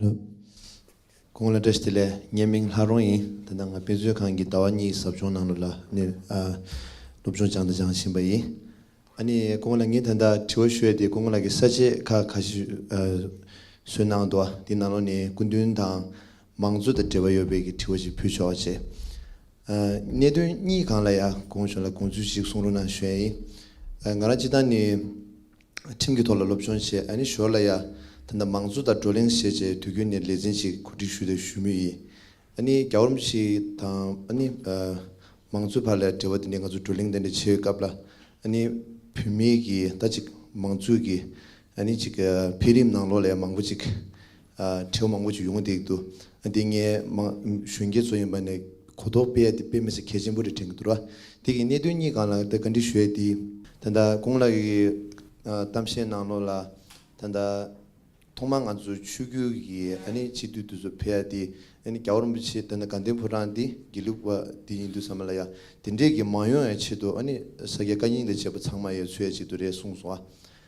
ལོ། ཁོང་ལ་བཀྲ་ཤིས་བདེ་ལེགས་བརྙན་མིང་ལྷ་རོང་ཡིན་དེ་ན་ང་དཔེ་མཛོད་ཁང་གི་ཟླ་བ་གཉིས་ཟབ་སྦྱོང་ནང་ལོ་ལ་ནི་སློབ་སྦྱོང་སྦྱང་དང་སྦྱང་བཞིན་པ་ཡིན་ཨ་ནི་ཁོང་ལ་ངས་ད་ལྟ་དྲི་བ་ཤོད་དེ་ཁོང་ལ་གི་ས་བཅད་ཁ་ཁ་ཤི་བཟོས་གནང་འདུག་ཨ་དེ་ན་ལོ་ནི་སྐུ་མདུན་དང་མང་གཙོ་དང་འབྲེལ་བ་ཡོད་པའི་གི་དྲི་བ་ཞིག་ཕུལ་ཆོག་ཅེས་ཨ་གནད་དོན་གཉིས་གང་ལ་ཡ་གོང་ཞོག་ལ་དགོངས་ཚུལ་ཞིག་གསུང་རོགས་གནང་ཞོས་ཨ་ང་རང་སྤྱི་བཏང་ནི། ཁྲིམས་ཀྱི་ཐོག་ལ་སློབ་སྦྱོང་བྱས་ནི་ཞོར་ལ་ཡང། ད་ལྟ་མང་གཙོ་དང་བགྲོ་གླེང་བྱེད་ཅེས་དུས་རྒྱུན་ནས་ལས་འཛིན་ཞིག་གོ་སྒྲིག་ཞུས་ཏེ་ཞུ་མུས་ཡིན། ནི་རྒྱ་གོར་མི་ཞིག་དང། ནི། མང་གཙོའི་བར་ལ་འབྲེལ་བ་དེ་འདྲའི་ང་ཚོ་བགྲོ་གླེང་དེ་འདྲ་བྱེད་སྐབས་ལ། ནི། བུད་མེད་ཀྱི་ཟླ་གཅིག་མང་གཙོའི་གི། ནི། ཅིག་འཕེལ་རིམ་ནང་ལོགས་ལས་མང་པོ་ཅིག། ཁྲལ་བོ་མང་པོ་ཅིག་ཡོང་གི་འདུག་དེ་ལྟ་ངས་གཞོན་སྐྱེས་ཚོ་ཡིན་པ་ནས་གོ་རྟོགས་སྤེལ་ཡ་དེ་སྤེལ་མི་སྲིད་གལ་ཆེན་པོ་རེད་དྲན་གི་འདུག་ར་དེ་གི་གནད་དོན་གཉིས་གང་ལ་ད་ག་འདྲི་ཞུ་ཡ་དེ་ད་ལྟ་ཀུན་ལགས་ཀྱི་གཏམ་བཤད་གནང་ལོག་ལ་ད་ལྟ་ཐོག་མ་ང་ཚོ་ཆོས་བརྒྱུད་ཀྱི་ཨ་ནི་སྤྱི་འཐུས་དེ་ཚོ་ཕེབས་ཡ་དེ་ཨ་ནི་རྒྱ་བོར་རིན་པོ་ཆེ་ད་ནི་དགའ་ལྡན་ཕོ་བྲང་དེ་དགེ་ལུགས་པ་དེ་ཡིན་འདུག་ས་མ་ལ་ཡ་དེ་འདྲས་ཀྱི་མ་ཡོང་ཡ་ཆེད་དུ་ཨ་ནི་ས་སྐྱ་བཀའ་རྙིང་ལས་བྱེད་པ་ཚང་མ་ཡ་ཚུད་ཡ་ཆེད་དུ་རེད་གསུངས་སོང་ཨ་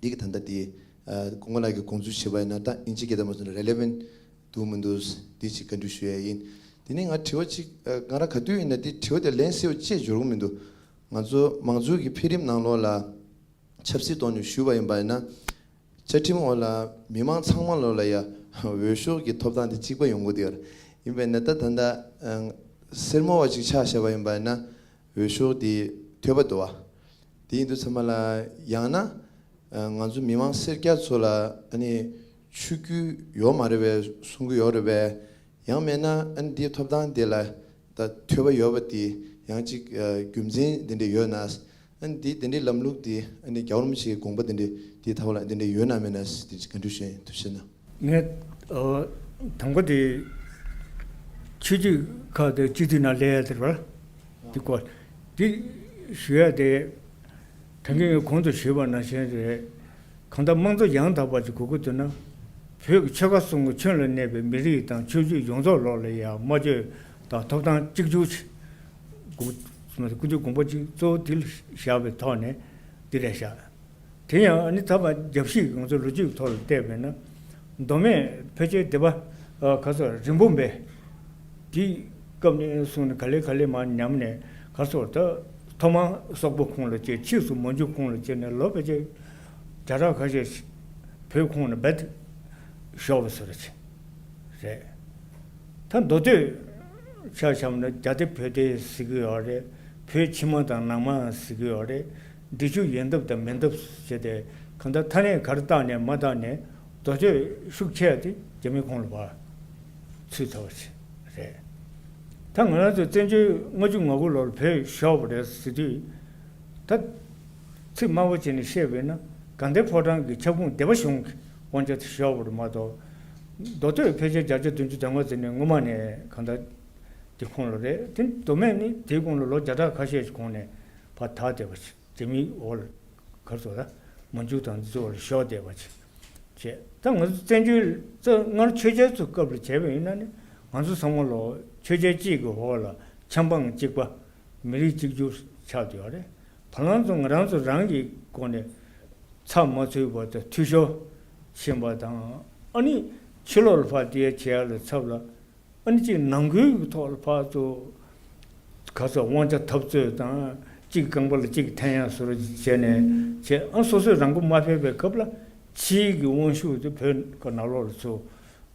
འདི་གི་ད་ལྟ་དེ། ཁོང་རྣམས་ཀྱི་དགོངས་ཚུལ་བྱས་པ་ཡིན་ན་ད་ཨིན་ཇི་སྐད་བསྟན་པ་སོགས་ནི relevant། འདུག་མི་འདུག་དེ་ཅིག་བཀའ་འདྲི་ཞུ་ཡས་ཡིན། དེ་ནས་ང་དྲི་བ་ཅིག་ང་རང་ག་དུས་ཡིན་ན་དེ་དྲི་བ་དེ་ལན་སེའུ་བཅས་འབྱོར་གི་མི་འདུག་ང་ཚོ་མང་གཙོའི་གི་འཕེལ་རིམ་ནང་ལོགས་ལ་ཆབ་སྲིད་ཐོག་ནས་ཞུས་པ་ཡིན་པ་ཡིན་ན། བཅའ་ཁྲིམས་འོག་ལ་མི་མང་ཚང་མ་ལོགས་ལ་ཡ་འོས་ཤོག་གི་ཐོབ་ཐང་དེ་གཅིག་པ་ཡོང་གི་འདུག་ཡར། ཡིན་པ་ཡིན་ན་ད་ད་ལྟ་སེར་མོ་བ་ཅིག་ཆགས་བཞག་པ་ཡིན་པ་ཡིན་ན། འོས་ཤོག་དེ་ཐོས་པ་དུ་བ། དེ་ཡིན་དུས་ཚང་མ་ལ་ཡང་ན་ང་ཚོ་མི་མང་སེར་སྐྱ་ཚོ་ལ་ཨ་ནི་ཆུ་རྒྱུས་ཡོག་མ་རེད་བས་གསུང་གི་ཡོག་རེད་བས་ཡང་མེད་ན་ཨ་ནི་དེའི་ཐོབ་ཐང་དེ་ལ་ད་ཐོས་པ་ཡོག་བ་དེ་ཡང་གཅིག་རྒྱུ་མཚན་དེ་འདྲས་ཡོད་ན་ཨ་ནི་དེའི་དེ་འདྲས་ལམ་ལུགས་དེ་ཨ་ནི་རྒྱ་གོར་མོ་ཆེའི་དགོངས་པ་དེ་འདྲས་དེའི་ཐབས་ལ་དེ་འདྲས་ཡོད་ན་མེད་ན་དེ་གཅིག་ག་འདྲས་ཞེ་དུ་ཕྱིན་ན། ངས་དང་པོ་དེ་ཆོས་རྒྱུད་ཁག་དེ་སྤྱི་འཐུས་ནང་སླེ་ཡས་དེར་བ་དེ་སྐོར་དེ་ཞུ་ཡས་དེ་དོན་གྱི་ངས་གོང་དུ་ཞུས་པ་ནང་བཞིན་རེད་གང་ལྟར་དམངས་གཙོ་ཡང་དག་པ་ཅིག་གོ་དགོས་དོན་ན་བོད་ཀྱི་ཆོལ་ཁ་གསུམ་གྱི་ཁྱོན་ལ་གནས་པའི་མི་རིགས་དང་ཆོས་རྒྱུད་ཡོངས་རྫོགས་ལོགས་ལ་ཡ་སྨྲ་བརྗོད་དང་ཐོབ་ཐང་གཅིག་གྱུར་ཆེད་དགོས་དགོས་དགོངས་པ་ཅིག་གཙོ་བོ་དེ་བཞག་པའི་ཐོག་ནས་དེ་ལས་བཞག་དེ་ཡང་ཨ་ནི་ཐ་མ་རྒྱབ་བཞི་གང་ཚོད་ལོ་རྒྱུས་ཐོག་ལ་བལྟས་པས་ན། མདོ་སྨད་བོད་ཆས་སྡེ་པ་ག་ཚོད་རིན་པོ་འབེ། དེའི་སྐབས་ནས་བཟུང་ནས་ག་ལེ་ག་ལེ་མ་ཉམས་ནས་ག་ཚོད་ད་ཐོག་མ་སོག་པོ་ཁོང་ལ་བཅད་ཕྱིས་སུ་མོ་འཇུ་ཁོང་ལ་བཅད་ནས་ལོ་བེ་ཆས་བརྒྱ་ཕྲག་ཁ་ཤས་བོད་ཁོང་ན་བེད་ཞོག་བེ་སོ་ར་ཆེ་རེད། ད་མདོ་སྟོད་ཆ་བྱམས་ན་རྒྱ་སྡེ་བོད་སྡེ་ཟེར་གི་ཡོག་རེད་བོད་ཕྱི་མ་དང་ནང་མ་ཟེར་གི་ཡོག་རེད། འབྲི་ཆུ་ཡལ་འདབ་དང་མེ་འདབ་ཟེར་ཏེ་གང་ལྟར་ཐ་ནས་གར་བཏགས་ནས་མ་བཏགས་ནས་རྡོ་ཆས་ཤུགས་ཆད་དེ་རྒྱ་མི་ཁོང་ལ་བར་ཚུད་ཚར་བ་ཞིག་རེད། ད་ང་རང་ཚོ་བཙན་བྱོལ་ལྔ་བཅུ་ང་དགུ་ལོར་བོད་ཤོར་བ་རེད་ཟེར་དུས། ད། ཚིག་དམའ་བོ་བྱས་ནས་བཤད་དགོས་ན་དགའ་ལྡན་ཕོ་བྲང་གི་ཁྱབ་ཁོངས་སྡེ་པ་གཞུང་གི་དབང་ཆ་དེ་ཤོར་བ་རེད་མ་གཏོགས། མདོ་སྟོད་ཕལ་ཆེར་བརྒྱ་ཆ་བདུན་ཅུ་དོན་ལྔ་ཟེར་ནས་སྔོན་མ་ནས་གང་ལྟར་དེ་ཁོང་ལ་རེད་དེ་མདོ་སྨད་ནི་དེའི་གོང་ལ་ལོ་བརྒྱ་ཕྲག་ཁ་ཤས་ཀྱི་གོང་ནས་བ་ཐ་དད་པ་ཕྱི་དེ་མི་འོག་ལ་གར་སོགས་ལ། མ་འཇུག་དང་རྫི་བ་ལ་ཤོག་དད་པ་ཕྱི། ཅེས་ད་ང་ཚོ་བཙན་བྱོལ་ཙོ་སྔར་ཆོས་རྒྱལ་ཚོ་སྐབས་ལ་བྱས་པ་ཡིན་ན་ནི་ང་ཚོ་ཚང་མ་ལོ་ཆོས་རྒྱལ་གཅིག་གི་འོག་ལ་ཆམ་པང་གཅིག་པ། མི་རིགས་གཅིག་གྱུར་ཆགས་བསྡད་པ་རེད། བ་ལང་ཚོ་ང་རང་ཚོ་རང་གི་སྒོ་ནས་ཚ་མ་ཚུད་པ་དང་འཐུས་ཤོར་ཕྱིན་པ་དང་ཨ་ནི་ཕྱི་ལོག་ལ་བ་དེའི་ཁྱེའ་ལ་ཚབ་ལ་ཨ་ནི་གཅིག་ནང་ཁུལ་གྱི་ཐོག་ལ་ཕག་ཚོ། ག་ཚོ་དབང་ཆ་འཐབ་རྩོད་དང་གཅིག་རྐང་པ་ལ་གཅིག་འཐེན་ཡང་ཟུར་བྱས་ནས་བྱས་ཨང་སོ་སོས་རང་མགོ་མ་ཕེབས་པའི་སྐབས་ལ་ཕྱིའི་གི་དབང་ཤུགས་དེ་བོད་ག་ནག་ལོག་ལ་ཚུ།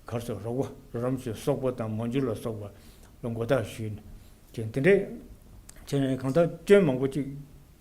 གར་ཚོ་རོག་པ་རོ་རམ་ཚོའི་སོག་པོ་དང་མོ་འཇུ་ལ་སོག་པ་ལ་མགོ་བཏགས་ཞུས་ནས་བྱས་འདི་འདྲས་བྱས་ནས་གང་ལྟར་སྐྱོན་མང་པོ་གཅིག་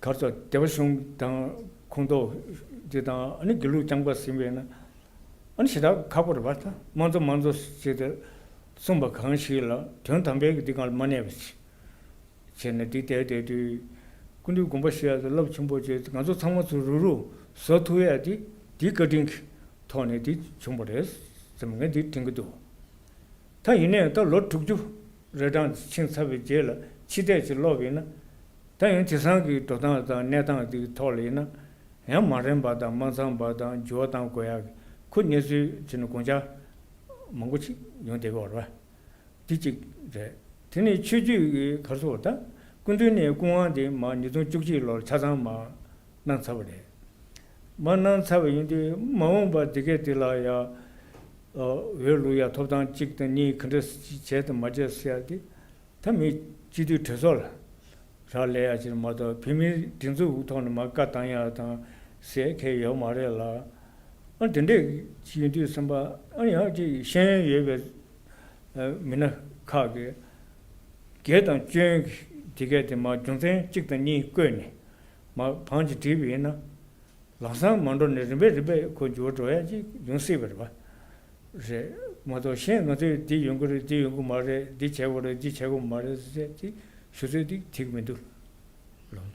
གར་སོགས་བདེ་བ་གཞུང་དང་ཁུངས་གཏོགས་རྒྱུ་དང་དགེ་ལུགས་རྐྱང་པ་ཟིན་པས་ན། ཞེ་དྲག་ཁ་པོར་བར་དང་མ་རྫོགས་མ་རྫོགས་ཞེས་ཏེ་གསུངས་པ་གང་ཞིག་ལ་དོན་དམ་པའི་འདི་གང་ལ་མ་གནས་པ་ཅི། ཅེ་ན་འདི་ལྟའི་དེ་དུས་ཀུན་འདུས་དགོངས་པ་བཞི་ཡང་རླབས་ཆེན་པོ་ཅན་ང་ཚོ་ཚང་མ་ཚུར་རུག་རུག་བཟོ་ཐུབ་ཡ་དེ་དེའི་བཀའ་དྲིན་གྱི་ཐོག་ནས་དེ་བྱུང་བ་རེད་བསམ་ངས་འདི་དྲན་གྱི་འདུག་ད་ཡིན་ནའི་ད་ལོ་དྲུག་ཅུ་རེ་གྲངས་འཆིང་ཚར་བའི་རྗེས་ལ་ཕྱི་བལྟས་ཅིག་སློབ་ཡིན་ན། ད་ཡང་དེ་སང་གི་འགྲོ་སྟངས་དང་གནས་སྟངས་འདི་གི་ཐོག་ལ་ཡིན་ན། ཡང་མ་རན་པ་དང་མ་འཚམས་པ་དང་འགྱུར་བ་གཏང་དགོས་ཡག་གི་ཁུ་གནས་ཚུལ་དེ་ནི་དགོངས་འཇགས་མང་པོ་ཞིག་ཡོང་བསྡད་པ་རེད། དེ་གཅིག་རེད། དེ་ནི་ཆོས་རྒྱུད་ཀྱི་གར་སོ་བ་དག་སྐུ་མདུན་ནས་སྐུ་དབང་དེ་མ་ཉིས་སྟོང་བཅུ་གཅིག་ལོར་ཆ་ཚང་མ་གནང་ཚར་བ་རེད། མ་གནང་ཚར་བ་ཡིན་དུས་མ་འོངས་པར་དེ་གས་དེ་ལ་ཡ། འོས་བླུགས་ཡ་ཐོབ་ཐང་གཅིག་དང་གཉིས་གང་འདྲ་བྱས་དང་མ་བྱས་ཟེར་ཡ་དེ། ད་མི་སྤྱི་འཐུས་གྲོས་ཚོགས་ལ་རག་ལས་ཡ་ཕྱིར་མ་གཏོགས་བོད་མིའི་སྒྲིག་འཛུགས་དབུ་ཐོག་ནས་མ་བཀའ་བཏང་ཡ་དང་ཟེར་མཁན་ཡོད་མ་རེད་ལ། ཨང་དེ་འདྲས་ཡིན་དུས་སེམས་པ་ཨང་ཡག་ཅིག་ཤེས་ཡོན་ཡོད་པའི་མི་སྣ་ཁག་གིས། དགེ་དང་བཅོན་གྱིས་དེ་གས་དེ་མ་རྒྱུ་མཚན་གཅིག་དང་གཉིས་བཀོད་ནས་མ་བངས་ཀྱིས་བྲིས་པ་ཡིན་ན། ལམ་སང་མ་འགྲོ་ནས་རིམ་པས་རིམ་པས་ཁོ་འགྱུར་བ་འགྲོ་ཡ་གཅིག་ཡོང་སྲིད་པ་རེད་པ། རེད་མ་གཏོགས་གཞན་ང་ཚོས་འདི་ཡོང་གི་རེད་འདི་ཡོང་གི་མ་རེད་འདི་བྱེད་དགོས་རེད་འདི་བྱེད་དགོས་མ་རེད་ཟེར་ཏེ་ཞུ་ཚོད་ཅིག་བྲིས་ཀྱི་མི་འདུག་ལགས།